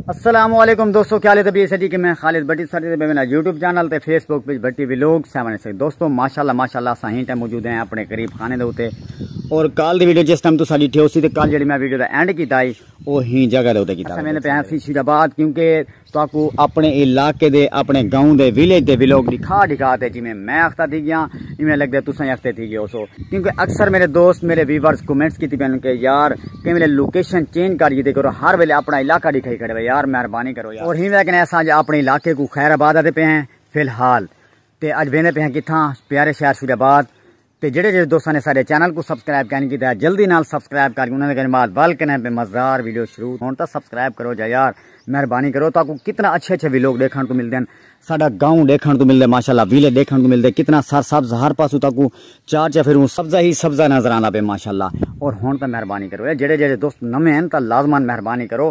السلام علیکم دوستو کیا لے تبیہ سٹی کہ میں خالد بٹی سٹی دے بیوینا یوٹیوب چینل تے فیس بک پیج بٹی ویلوگ سیونے سے دوستو ماشاءاللہ ماشاءاللہ ساہین ٹائم موجود ہیں اپنے قریب خانے دے ہوتے اور کال دی ویڈیو جس ٹائم تو ساڑی ٹھیو سی تے کال جڑی میں ویڈیو دا اینڈ کی تائی وہ ہی جگہ دے ہوتے کی تائی میں نے پہن سی شیراباد کیونکہ تہاکوں اپݨے علاقے دے، اپݨے گاؤں دے، ویلیج دے ویلوگ ݙکھا ݙکھا تے جیویں میں اختہ تھی ڳیاں ایویں لڳدے تساں ہی اختہ تھی ڳئے ہوسو کیونکہ اکثر میݙے دوست، میݙے ویورز کمنٹس کیتی پئن کہ یار کہیں ویلے لوکیشن چینج کر ڄیتی کرو ہر ویلے اپݨا علاقہ ݙکھائی کھڑے وے یار مہربانی کرو یار۔ اور ہی ویکھݨے اساں اڄ اپݨے علاقے کوں خیر آباد آتے پئے ہیں فی الحال تے اڄ ویندے پئے ہیں کتھاں پیارے شہر شیر آباد تے جیڑھے جیڑھے دوستاں نے ساڈے چینل کوں سبسکرائب کائنی کیتا جلدی نال سبسکرائب کر کے انہاں دے کنے بعد ول کنے پے مزدار ویڈیو شروع ہن تاں سبسکرائب کرو جا یار مہربانی کرو تاکوں کتنا اچھے اچھے ویلوگ ڈیکھن کوں ملدے ہن ساڈا گاؤں ڈیکھن کوں ملدے ماشاءاللہ ویلے ڈیکھن کوں ملدے کتنا سر سبز ہر پاسو تاکوں چار چا پھروں سبزہ ہی سبزہ نظر آندا پے ماشاءاللہ اور ہن تاں مہربانی کرو جیڑھے جیڑھے دوست نویں ہن تاں لازمان مہربانی کرو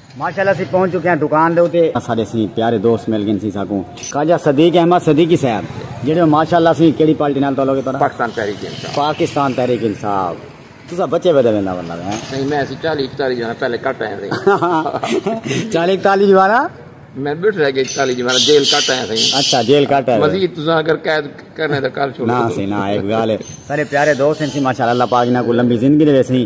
ماشاءاللہ اسی پہنچ چکے ہیں دکان دے اتے اساڈے سی پیارے دوست مل گئے سی ساکوں خواجہ صدیق احمد صدیقی صاحب جڑے ماشاءاللہ سی کیڑی پارٹی نال تعلق ہے تہاڈا پاکستان تحریک انصاف پاکستان تحریک انصاف تسا بچے ودے ویندا بندہ ہے نہیں میں اسی 40 41 جانا پہلے کٹ آئے تھے 40 41 جانا میں بیٹھ رہ گئے 41 جانا جیل کٹ آئے تھے اچھا جیل کٹ آئے مزید تسا اگر قید کرنے دا کر چھوڑ نہ سی نہ ایک گال ہے سارے پیارے دوست ہیں سی ماشاءاللہ اللہ پاک انہاں کو لمبی زندگی دے سی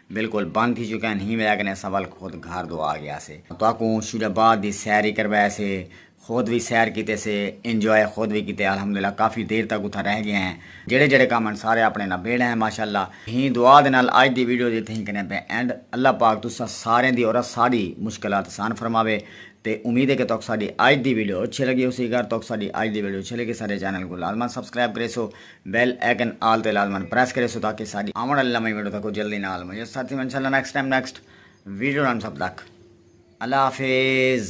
بالکل بند تھی چکے ہن ہی وجہ کنے اساں ول خود گھر دو آ گیا سے تہاکوں شیرا باد دی سیر ہی کروایا سے خود وی سیر کیتے سے انجوائے خود وی کیتے الحمدللہ کافی دیر تک اتھاں رہ گئے ہیں جیڑھے جیڑھے کم ہن سارے اپنے نال بیڑے ہیں ماشاءاللہ ہی دعا دے نال اج دی ویڈیو دی تھیں کنے پہ اینڈ اللہ پاک تساں سارے دی اور اساڈی مشکلات اسان فرماوے تے امید ہے کہ تہاکوں ساڈی اج دی ویڈیو اچھی لگی ہوسی اگر تہاکوں ساڈی اج دی ویڈیو اچھی لگی ساڈے چینل کو لازما سبسکرائب کریسو بیل ایکن آل تے لازمن پریس کرے سو تاکہ ساڈی آون آلی نویں ویڈیو تکو جلدی نال مجھے ساتھ تھی انشاءاللہ نیکسٹ ٹائم نیکسٹ ویڈیو نال سب تک اللہ حافظ